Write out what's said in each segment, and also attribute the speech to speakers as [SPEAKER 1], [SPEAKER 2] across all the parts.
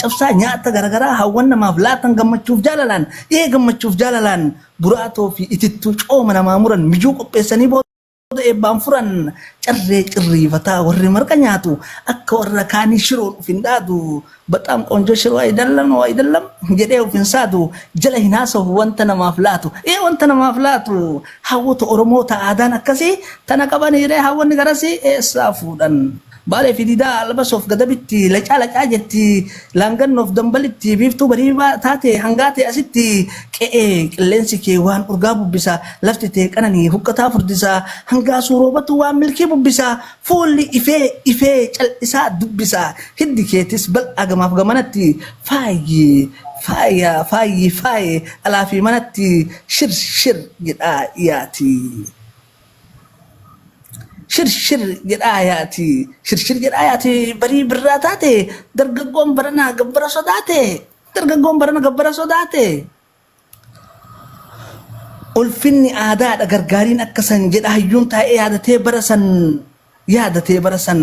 [SPEAKER 1] Cabsaa nyaatta garagaraa hawwan namaaf laatan gammachuuf jaalalaan dhihee gammachuuf jaalalaan buraatoo fi itittuu cooma namaa muran mijuu qopheessanii booda eebbaan furan carree cirriifataa warri marqa nyaatu akka warra kaanii shiroon uf hin dhaadu baxaam qoonjoo shiroo ayidallam oo ayidallam jedhee uf hin saadu jala hin haasahu wanta namaaf laatu ee wanta namaaf laatu hawwota oromoota aadaan akkasii tana qabaniiree hawwanni garasii eessaa fuudhan Baalee fi Diidaa Albasoof Gadabitti, Lacaa Lacaa jetti Laangannoof Dambalitti, Biiftuu Barii taatee hangaa tee asitti, Qe'ee qilleensi kee waan urgaa bubbisa, Lafti tee qananii huqqataa furdisa, Hangaasuu roobatu waan milkii bubbisa, Fuulli ifee ifee cal'isaa dubbisa, Hiddi keetis bal'aa gamaaf gamanatti, Faayi faaya faayi faaye alaa fi manatti, Shir shir jedhaa yaati. Shirshir jedhaa yaati shirshir jedhaa yaati barii birraa taate dargaggoon baranaa gabbara sodaate dargaggoon barana gabbara sodaate. Ulfinni aadaadha gargaariin akka san jedha hayyuun taa'ee yaadatee bara san Yaadatee bara san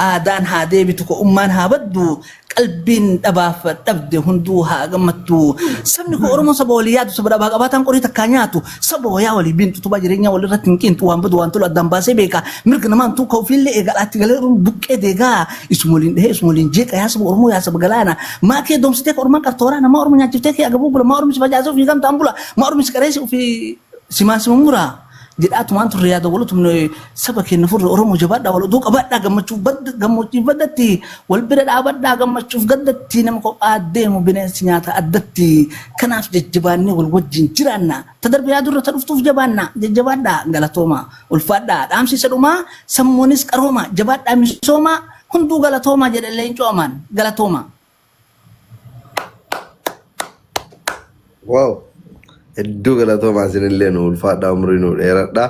[SPEAKER 1] Aadaan haa deebitu ko ummaan haa baddu Qalbiin dhabaaf dhabde hunduu haa gammaddu Sabni ko Oromoon saba walii yaadu saba dhabaa qabaataan qorii takkaa nyaatu Saba wayaa walii biinxu utubaa jireenyaa walirratti hin qiinxu Waan badu waan tolu addaan baasee beeka Mirga namaa hin tuukka'u ofiillee eega Alaatti galee Oromoo buqqee deega Isuma waliin dhahee isuma waliin jeeqa Yaa saba Oromoo yaa saba galaana Maa kee doomsitee ka ormaan qarta waraana Maa ormi nyaachiftee kee agabuu bula Maa ormi si facaasee ofii gamtaan bula Maa ormi si qareesse ofii simaan sima mura jedhaa tumaan turre yaada wal tumne saba keenya furre Oromoo jabaadhaa wal oduu qabaadhaa gammachuuf badda gammoojjiif baddatti wal bira dhaabadhaa gammachuuf gaddatti nama kophaa deemu bineensi nyaata addatti kanaaf jajjabaannee wal wajjin jiraanna ta darbe yaadurra ta dhuftuuf jabaanna jajjabaadhaa galatooma ulfaadhaa dhaamsi isa dhumaa sammuunis qarooma jabaadhaa misooma hunduu galatooma jedhe leencoo amaan galatooma.
[SPEAKER 2] Wow. Hedduu galatoomaa isinillee nu ulfaadhaa umrii nu dheeradhaa.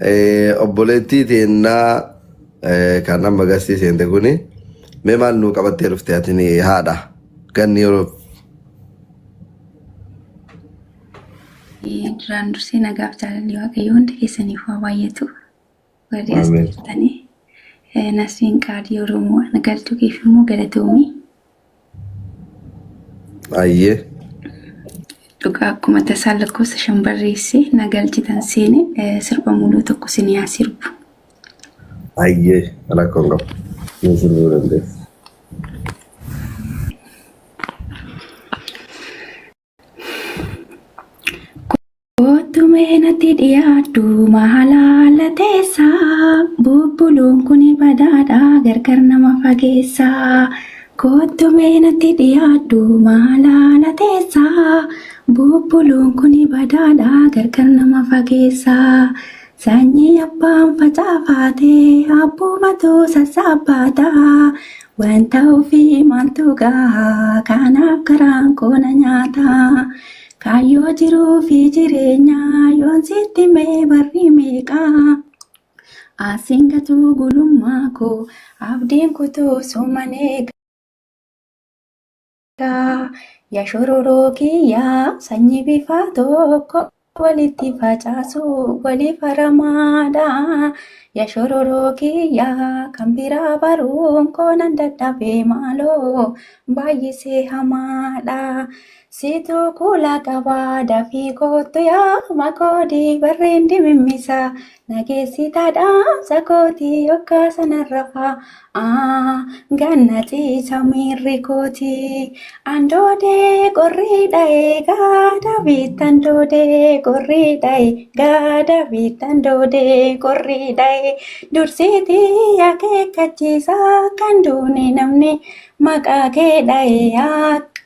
[SPEAKER 2] Eh, Obboleettii teennaa eh, kan amma gastii seente kuni mee maal nuu qabattee dhufte ati ni haadha ganni yeroo
[SPEAKER 3] Duraan dursee nagaaf jaalalli waaqayyo hundi keessaniif waa baay'atu. Warri as Ameen. jirtanii eh, Nasriin Qaadii Oromoo ana galchuu keef immoo galatoomii.
[SPEAKER 2] Ayyee.
[SPEAKER 3] Dhugaa akkuma tasaa lakkoofsa shan barreesse na galchitan seene eh, sirba muluu tokko sin yaa sirbu.
[SPEAKER 2] Ayyee. Rakkoo hin qabu. Ni sirbuu dandeessa.
[SPEAKER 3] Kottumee natti dhiyaadhu maalaala teessa bubbuluun kun badaadha gargar nama fageessa. Kottumee natti dhiyaadhu maalaala teessa bubbuluun kun badaadha gargar nama fageessa. Sanyii abbaan facaafaatee abbuumatu sassaabbaata Wanta ofii maaltu gahaa kanaaf garaan koo na nyaataa kaayyoo jiruu fi jireenyaa yoon sitti mee barri meeqaa asiin gatuu gulummaa koo abdiin kutuu suman eega. Ya shororoo kiyyaa sanyii bifaa tokko walitti facaasu waliif haramaadha. Ya shororoo kiyyaa kan biraa baruun koo nan dadhabe maaloo baay'isee hamaadha. Situ kuula qabaa dafii koottu yaa makoodii barreen dimimmisaa Nageessitaa dhaamsa kooti yokkaa sana rafaa aa ganna ciisa miirri kooti andoodee qorrii dha'ee gaada biittan doodee qorrii dha'ee gaada biittan doodee qorrii dha'ee dursiitii akeekkachiisa kan duune namni maqaa kee dha'ee akka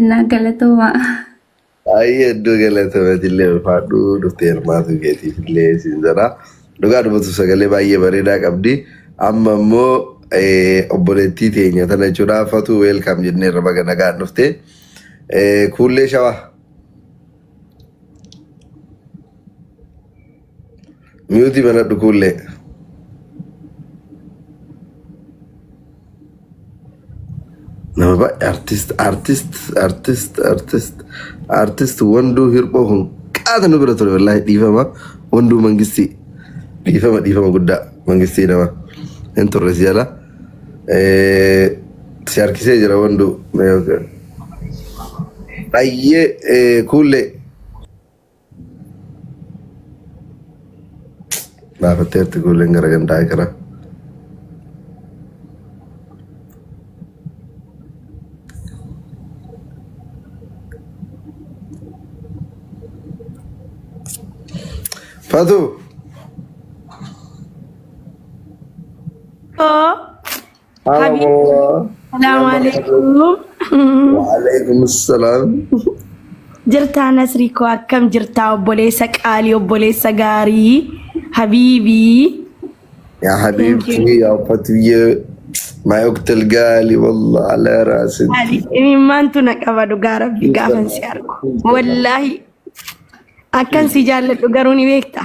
[SPEAKER 3] Innaa galatoomaa.
[SPEAKER 2] Baay'ee iddoo galatameetillee ulfaadhuu dhuftee hirmaatu keetiifillee siin jedha. Dhugaa dubbatu sagalee baay'ee bareedaa qabdi. Amma immoo eh, obboleettii teenya tana jechuudha fatuu weelkaam jennee irra baga nagaan dhufte. Eh, Kuullee shawaa. Miyuutii banadhu kuullee. Nama baay'ee artist artist artist artist artist wanduu hirphoo kun qaata nu bira ture wallaahi dhiifama wanduu mangistii dhiifama dhiifama guddaa mangistii nama hin turre si jala Eh, si harkisee jira wanduu baay'ee eh, kuullee Baafatteerti ijoolleen gara gandaa gara. Fatu!
[SPEAKER 4] Hoo Haala Habibi. moraa. Salaamu alaikum. Waalaikum
[SPEAKER 2] salaam. Jirtaa
[SPEAKER 4] Nasrii koo akkam jirtaa obboleessa qaalii obboleessa gaarii habiibii. Yaa
[SPEAKER 2] habiibtii yaa fatiyyee. Maa yoktel gaali wallah ala raasin. Maali imimmaantu
[SPEAKER 4] na qaba dhugaa rabbi gaafan si argu. Wallaahi akkan si jaalladhu garuu ni beekta.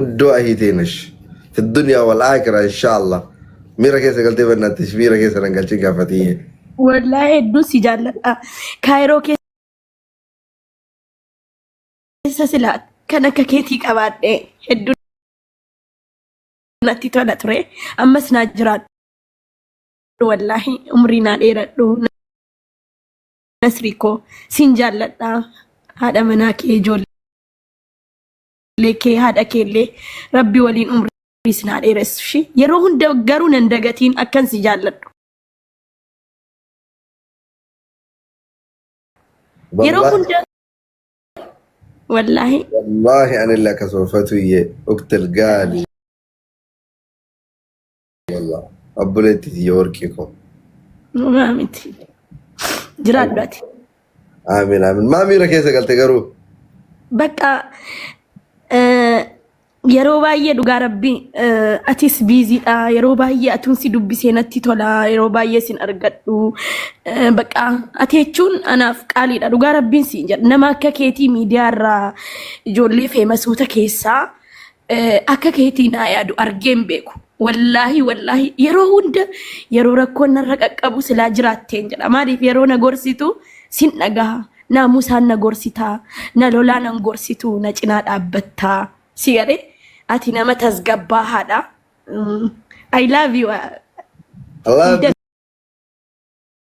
[SPEAKER 2] guddoo ahii teenash fi duniyaa wal aakira inshaallah miira keessa galtee bannaattish miira keessa nan galchin gaafatiyye Wallaa hedduu
[SPEAKER 4] si jaalladha. Kaayiroo keessa silaa kan akka keetii qabaadhe hedduu natti tola ture. Ammas naa jiraadhu. wallaahi umrii naa dheeradhu nasrii koo siin jaalladha haadha manaa kee ijoollee kee haadha kee illee rabbi waliin umrii siin haa dheeressu ishii yeroo hunda garuu nan dagatiin akkan si jaalladhu yeroo Wallaahi- hunda wallaahi wallaahi anillee
[SPEAKER 2] akkasuma fatuyyee uktel gaali Wallah. Obboleetti tiyya warqii koo. Dhugaa
[SPEAKER 4] miti. Jiraadhu ati. Amiin
[SPEAKER 2] amiin. Maa miira keessa galte garuu? Bakka
[SPEAKER 4] eh, yeroo baay'ee dhugaa rabbi eh, atis biiziidha. Yeroo baay'ee atuun si dubbisee natti tola. Yeroo baay'ee sin argadhu. Eh, Bakka ati jechuun anaaf qaaliidha. Dhugaa rabbiin siin jedha. Nama akka keetii miidiyaa irraa ijoollee feemasuuta keessaa Akka keetii naa yaadu argeen beeku. Wallaahi wallaahi yeroo hunda yeroo rakkoon narra qaqqabu silaa jiraatteen jedha. Maaliif yeroo na gorsitu sin dhagaha. Naamusaan na gorsitaa, na lolaa nan gorsitu, na cinaa dhaabbattaa. Si galee ati nama tasgabbaahaadha. I love you. I love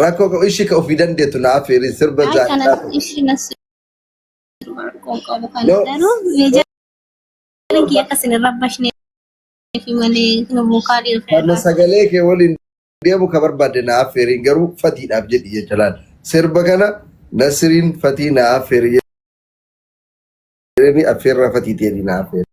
[SPEAKER 5] Rakkoo qabu ishii
[SPEAKER 2] ka ofii dandeettu na affeerii sirba Ay kana zaadhaa ta'u. ishi nas
[SPEAKER 5] rakkoon qabu kana No. garuu meejarin kiyya akka isin hin rabbashne fi malee nu buukaa dhiirri Kana irraa. sagalee kee
[SPEAKER 2] waliin deemu ka barbaadde na affeerii garuu fatiidhaaf jedhi jecha laal. Sirba kana nasiriin fatii na affeerii jedhanii affeerraa fatii ta'ee na affeerii.